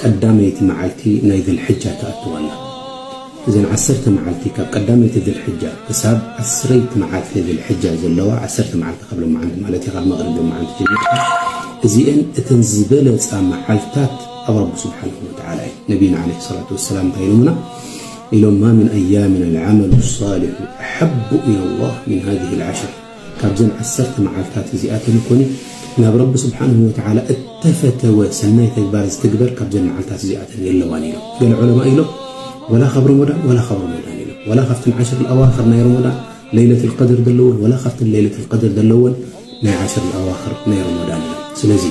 ቀዳመይቲ መዓልቲ ናይ ዝልሕጃ ትኣቱ ኣላ። እዘን ዓሰርተ መዓልቲ ካብ ቀዳመይቲ ዝልሕጃ ክሳብ ዓስረይቲ መዓልቲ ዝልሕጃ ዘለዋ፣ ዓሰርተ መዓልቲ ካብ ሎመዓንቲ ማለት እዩ፣ ካብ መቕሪብ ሎመዓንቲ ጀሚርካ፣ እዚኤን እተን ዝበለጻ መዓልታት ኣብ ረቢ ሱብሓነሁ ወተዓላ እየን። ነቢይና ዓለይሂ ሰላቱ ወሰላም እንታይ ኢሎምና? ኢሎም፣ ማ ሚን ኣያሚን ኣልዓመሉ ኣሳሊሑ ኣሐቡ ኢለላህ ሚን ሃዚሂል ዓሽር። ካብዘን ዓሰርተ መዓልታት እዚኣተን እኮኒ ናብ ረቢ ስብሓንሁ ወተዓላ እተፈተወ ሰናይ ተግባር ዝትግበር ካብዘን መዓልታት እዚኣተን የለዋን ኢሎም ገለ ዑለማ ኢሎም ወላ ካብ ረመዳን ወላ ካብ ረመዳን ኢሎም ወላ ካብተን ዓሽር ልኣዋክር ናይ ረመዳን ለይለት ልቀድር ዘለወን ወላ ካብተን ለይለት ልቀድር ዘለወን ናይ ዓሽር ልኣዋክር ናይ ረመዳን ኢሎም ስለዚ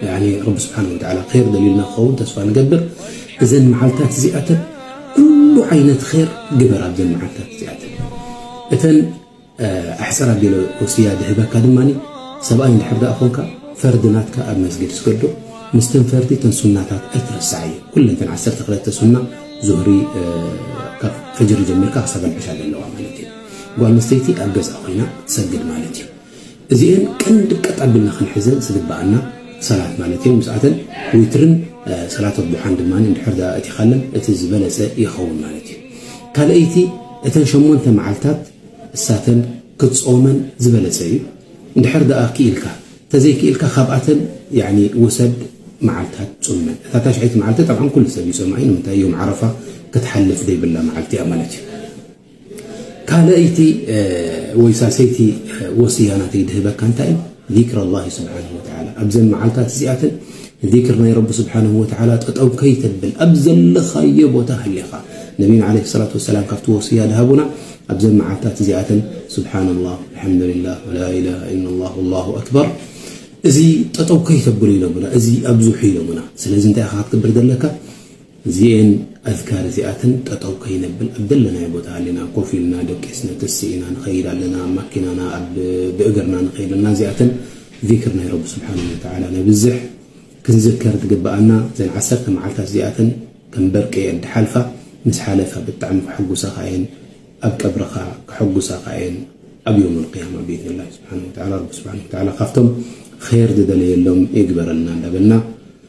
ያኒ ረቢ ስብሓን ወተዓላ ር ደልዩልና ክኸውን ተስፋ ንገብር እዘን መዓልታት እዚኣተን ኩሉ ዓይነት ር ግበር ኣብዘን መዓልታት እዚኣተን እተን ኣሕፀር ኣቢለ ወስያ ድህበካ ድማ ሰብኣይ እንድሕር ዳኣ ኮንካ ፈርዲ ናትካ ኣብ መስጊድ ስገዶ ምስተን ፈርዲ ተን ሱናታት ኣይትረስዓ እዩ ኩለን ተን ዓሰርተ ክለተ ሱና ዙህሪ ካብ ፈጅሪ ጀሚርካ ክሳብ ኣልዕሻ ዘለዋ ማለት እዩ ጓል ኣንስተይቲ ኣብ ገዛ ኮይና ትሰግድ ማለት እዩ እዚኤን ቀንዲ ቀጥ ኣቢልና ክንሕዘን ዝግበኣና ሰላት ማለት እየን። ምስኣተን ዊትርን ሰላት ኣዱሓን ድማ እንድሕር ድኣ ኣእቲኻለን እቲ ዝበለጸ ይኸውን ማለት እዩ። ካልኣይቲ እተን ሸሞንተ መዓልታት እሳተን ክትጾመን ዝበለጸ እዩ እንድሕር ድኣ ክኢልካ፣ ተዘይክኢልካ ካብኣተን ያኒ ውሰድ መዓልታት ጹመን። እታ ታሽዐይቲ መዓልቲ ጠብዓን ኩሉ ሰብ ይጾማ እዩ ንምንታይ ዮም ዓረፋ ክትሓልፍ ዘይብላ መዓልቲ እያ ማለት እዩ። ካልኣይቲ ወይ ሳልሰይቲ ወስያ ናተይ ድህበካ እንታይ እዩ? ዚክር ኣላሂ ስብሓነሁ ወተዓላ ኣብዘን መዓልታት እዚኣተን ዚክር ናይ ረቢ ስብሓነሁ ወተዓላ ጠጠው ከይተብል ኣብ ዘለኻዮ ቦታ ሃሊኻ ነቢና ዓለይሂ ሰላቱ ወሰላም ካብቲ ወስያ ድሃቡና ኣብዘን መዓልታት እዚኣተን ስብሓንላህ ኣልሓምዱሊላህ ወላኢላሃ ኢለላህ ወላሁ ኣክበር እዚ ጠጠው ከይተብሉ ኢሎምና እዚ ኣብዙሑ ኢሎምና ስለዚ እንታይ ኢኻ ክትገብር ዘለካ እዚኤን ኣዝካር እዚኣተን ጠጠው ከይነብል ኣብ ዘለናዮ ቦታ ሃሊና ኮፍ ኢልና ደቂስና ተሲ ኢና ንኸይድ ኣለና ኣብ ማኪናና ኣብ ብእግርና ንኸይድ ኣለና እዚኣተን ዚክር ናይ ረቢ ስብሓነሁ ወተዓላ ነብዝሕ ክንዝከር ዝግበኣና እዘን ዓሰርተ መዓልታት እዚኣተን ከም በርቂ እየን ድሓልፋ ምስ ሓለፋ ብጣዕሚ ከሐጉሳኻ እየን ኣብ ቀብርኻ ከሐጉሳኻ እየን ኣብ የውም ኣልቅያማ ብኢዝኒላሂ ስብሓነሁ ወተዓላ ረቢ ስብሓነሁ ወተዓላ ካብቶም ኸይር ዝደለየሎም ይግበረልና እንዳበልና